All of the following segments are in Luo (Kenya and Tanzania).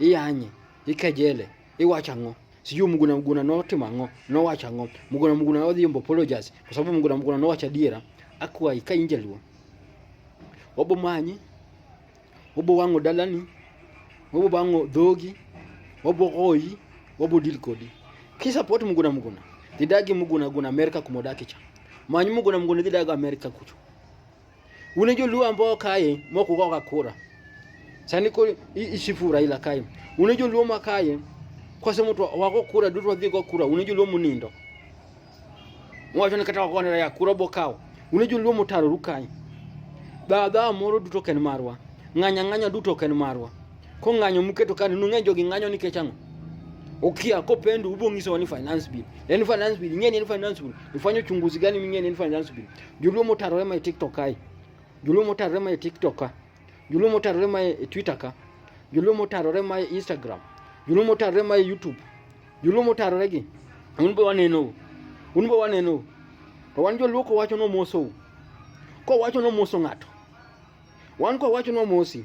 iyanye ikejele iwacho ang'o sijui mguna mguna notimo ang'o nowacho ang'o mguna mguna odhi yombo apologize kwa sababu mguna mguna nowacho adiera akwayi ka in jaluo obo manyi obo wang'o dalani obo bang'o dhogi obo goyi obo deal kodi kisapot mguna mguna dhidagi mguna mguna amerika kumodakicha manyi mguna mguna dhidagi amerika kucho Une joluo ambao kae moko goga kura. Sani ko ishifu Raila kae. Une joluo makaye kwa sema tu wako kura dutu wadhi go kura une joluo munindo. Mwacho ni kata wakone ya kura bokao. Une joluo mutaro rukai. Baba moro duto ken marwa. Nganya nganya duto ken marwa. Ko nganyo muketo kani nung'e jogi nganyo ni kechango. Ukia ko pendu ubongiso ni finance bill. Yaani finance bill, nyeni ni finance bill. Ifanye uchunguzi gani mingeni ni finance bill. Joluo motarore ma e TikTok kae. Joluo motarore ma e TikTok ka. Joluo motarore ma e Twitter ka. Joluo motarore ma e Instagram. Joluo motarore ma e YouTube. Joluo motarore gi. Un be waneno. Un be waneno. To wan joluo kowacho nomoso. Kowacho nomoso ng'ato. Wan kowacho nomosi.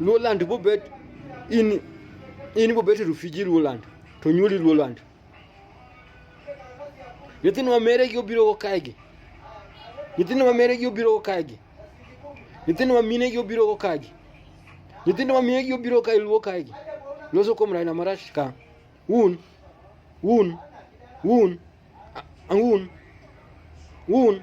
Luoland bobet in in bobet rufiji Luoland to nyuoli Luoland. Nyithindo ma mere gi obiro go kae gi. Nyithindo ma mere gi obiro go kae gi. Nyithindo ma mine gi obiro go kae gi. Nyithindo ma mine gi obiro kae luo kae gi. Loso kuom Raila Marach ka. Un un un un un